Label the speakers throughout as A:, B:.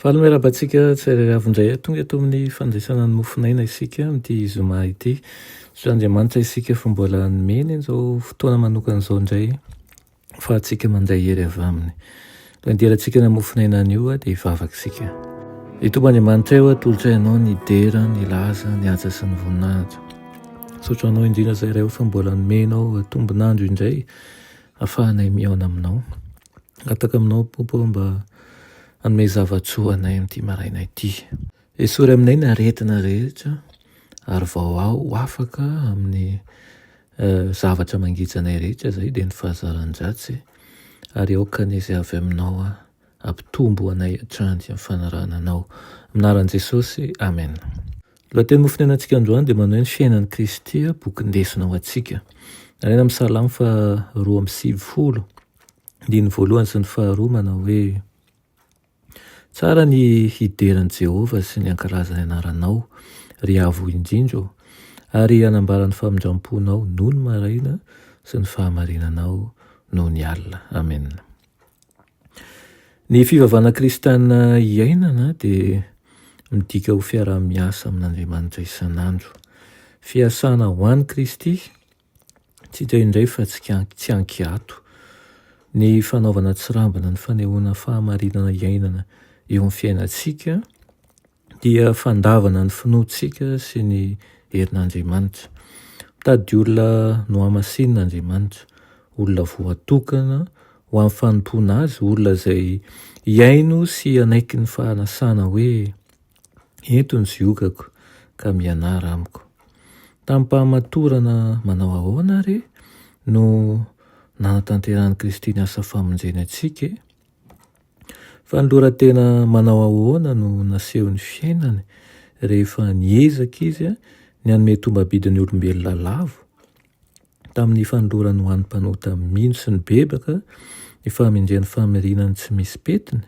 A: Faly miarahaba antsika tsirairay avy indray tonga eto amin'ny fandraisana ny mofonaina isika amin'ity zoma ity. Misaotra Andriamanitra isika fa mbola nomeny izao fotoana manokana izao indray fa antsika mandray hery avy aminy. Ilay derantsika ny mofonaina anio dia hivavaka isika. Ny tomba Andriamanitra eo atolotra ianao ny dera, ny laza, ny haja sy ny voninahitra. Misaotra anao indrindra izay iray fa mbola nomenao tombonandro indray afahanay mihaona aminao. Gataka aminao Popo ô mba hanome zava-tsoa anay amin'ity maraina ity. Esory aminay ny aretina rehetra ary vao aho ho afaka amin'ny zavatra mangeja anay rehetra izay dia ny fahazaran-dratsy ary aoka ny izay avy aminao hampitombo anay hatrany amin'ny fanarahana anao. Amin'ny anaran'i Jesosy, Amen. Ny lohateny ho fonenantsika androany dia manao hoe ny fiainan'i Kristy, boky nindesina ho antsika. Lazaina amin'ny Salamo faha roa amby sivifolo. andininy voalohany sy ny faharoa manao hoe, Tsara ny hidera an'i Jehovah sy ny hankalaza ny anaranao, ry Avo indrindra ô, ary hanambara ny famindram-ponao nony maraina sy ny fahamarinanao nony alina. Amena. Ny fivavahana kristiana iainana dia midika ho fiaraha-miasa amin'Andriamanitra isan'andro. Fiasana ho an'i Kristy Tsy hita indray fa tsy an-kiato ny fanaovana tsirambina ny fanehoana fahamarinana iainana eo amin'ny fiainantsika dia fandavana ny finoantsika sy ny herin'Andriamanitra. Mitady olona nohamasinina Andriamanitra, olona voatokana ho amin'ny fanompoana Azy, olona izay hihaino sy hanaiky ny fahanasana hoe Eto ny ziokako, ka mianara amiko. Tamim-pahamatorana manao ahoana àry no nanatanterahan'i Kristy ny asa famonjeny antsika? Fanoloran-tena manao ahoana no nasehon'ny fiainany rehefa niezaka izy ny hanome tombam-bidin'ny olombelona lavo tamin'ny fanolorany ho an'ny mpanota mino sy ny bebaka ny fahamendrehan'ny famirina ny tsy misy petiny?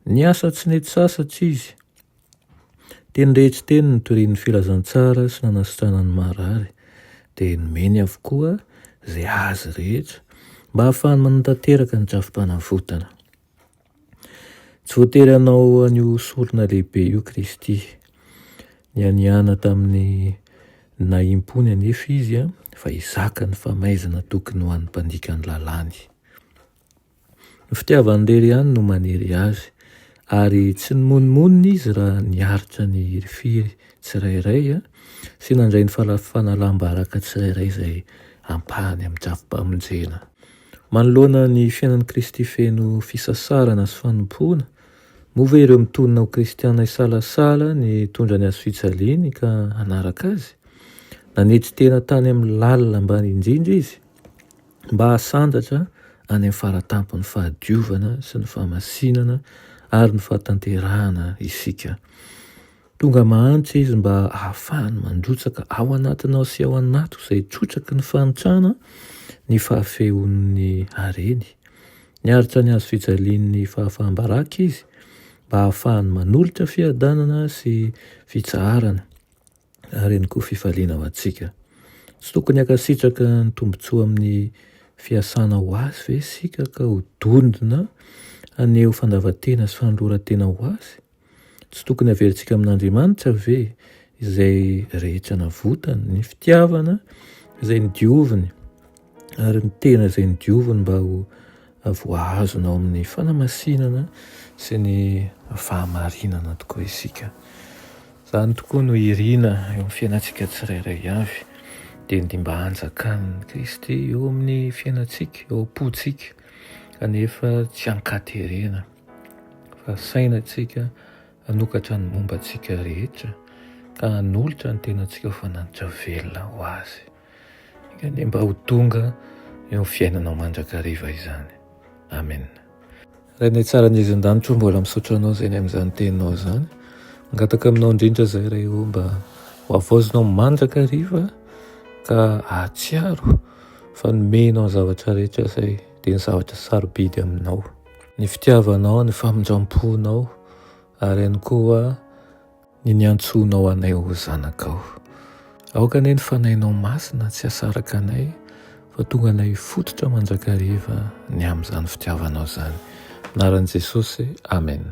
A: Niasa tsy nety sasatra izy. Teny rehetra teny nitorian'ny filazantsara sy nanasitrana ny marary, dia nomeny avokoa izay azy rehetra mba hahafahany manatanteraka ny drafi-panavotana. Tsy voatery hanao an'io sorona lehibe io Kristy. Nianiana tamin'ny nahim-pony anefa izy fa hizaka ny famaizana tokony ho an'ny mpandika ny lalàny. Ny fitiavany irery ihany no manery azy, ary tsy nimonomonona izy raha niaritra ny hirifiry tsirairay sy nandray ny fanalam-baraka tsirairay izay ampahany amin'ny drafi-pamonjena. Manoloana ny fiainan'i Kristy feno fisasarana sy fanompoana, moa ve ireo mitonona ho kristiana hisalasala ny hitondra ny hazofijaliany ka hanaraka azy? Nanetry tena tany amin'ny lalina ambany indrindra izy mba hahasandratra any amin'ny faratampon'ny fahadiovana sy ny fahamasinana ary ny fahatanterahana isika. Tonga mahantra izy mba hahafahany mandrotsaka ao anatinao sy ao anatiko izay trotraky ny fahantrana ny fahafehon'ny hareny. Niaritra ny hazo fijalian'ny fahafaham-baraka izy mba hahafahany manolotra fiadanana sy fitsaharana ary ihany koa fifaliana ho antsika. Tsy tokony hankasitraka ny tombontsoa amin'ny fiasana ho azy ve isika ka ho dondona haneho fandavan-tena sy fanoloran-tena ho azy? Tsy tokony haverintsika amin'Andriamanitra ve izay rehetra navotany, ny fitiavana izay nodioviny ary ny tena izay nodioviny mba ho voahazona ao amin'ny fanamasinana sy ny fahamarinana tokoa isika. Izany tokoa no irina eo amin'ny fiainantsika tsirairay avy dia ny mba hanjakan'i Kristy eo amin'ny fiainantsika, eo am-pontsika kanefa tsy an-katerena. fa saina antsika hanokatra ny momba antsika rehetra ka hanolotra ny tenantsika ho fananitra velona ho azy kane mba ho tonga eo fiainanao mandrakariva izany amen rainay tsara ny izan-danitro mbola misaotra anao zay ny amin'izany teninao izany angataka aminao indrindra zay ray o mba ho avaozinao mandrakariva ka ahatsiaro fa nomenao zavatra rehetra zay dia ny zavatra sarobidy aminao ny fitiavanao, ny famindram-ponao ary ihany koa ny niantsoanao anay ho zanakao. Aoka anie ny Fanahinao Masina tsy hasaraka anay fa tonga anay hifototra mandrakariva ny amin'izany fitiavanao izany. Anaran'i Jesosy, Amen.